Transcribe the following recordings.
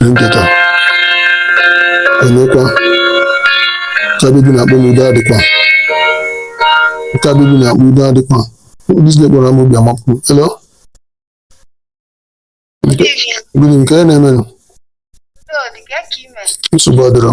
ihe nketa emekwa nke a Bidi na-akpọ m udo adịkwa nke a Bidi na-akpọ udo adịkwa biznes gwara m obi amapụ elo gịnị nke ya na-emenụ nsogbu adịrọ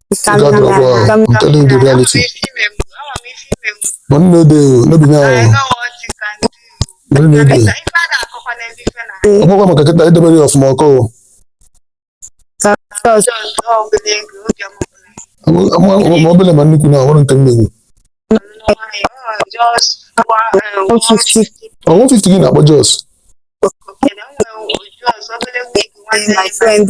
I'm telling you the reality. Money no dey o, no be now. Money no dey. Ọmọ kwa maka kịta edebere ya ọfụma ọkọ o. Ma obele ma nnukwu na ọhụrụ nke mmegbu. Ọ 150 gị na-akpọ Jos. my friend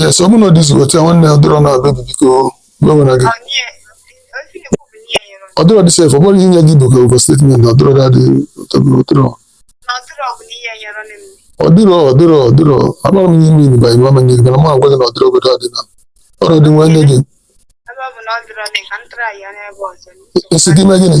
yes ọ bụrụ na ọ dịzi otu a nwanne ọdịrọ na bebi biko gbanwere gị ọdịrọ dị sef ọ bụrụ inye gị bụka ụgwọ statement ọdịrọ dadị ọdịrọ ọdịrọ ọdịrọ ọdịrọ amara m ihe mmiri banyere mama nye gị mana ma gwa gị na ọdịrọ obodo adị na ọrụ dị nwanne gị esi gị mee gịnị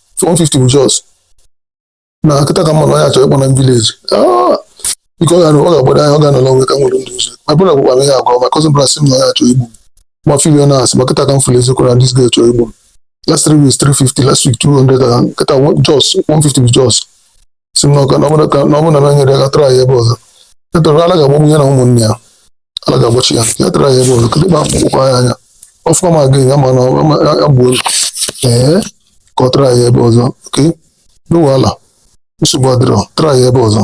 so 150 bụ jos na kịta ka m ma na onye a chọ ịkpọ na village biko ọ ga-agbado anya ọ ga-anọla onwe ka nwere ndị ụzọ ma bụrụ gwara ihe agwa ma cousin brothers m na onye a chọ igbu m fiwe na asị ma kịta ka m fụrụ eziokwu na this guy chọ igbu last three weeks 350 last week 200 kịta jos 150 bụ jos si na ọka na ọbụla ka na ọbụla na nyere ya aka try ya ebe ọzọ ya try ala ga-agbagbu ya na ụmụnne ya ala ga-agbachi ya ya try ya ebe ọzọ kedu ebe akpụkpọ ya anya ọfọ ma gị ya ma na ọ- ma- ya gbuo gị. ee ka ọ try ya ebe ọzọ okay no wahala nsogbu adịrọ try ya ebe ọzọ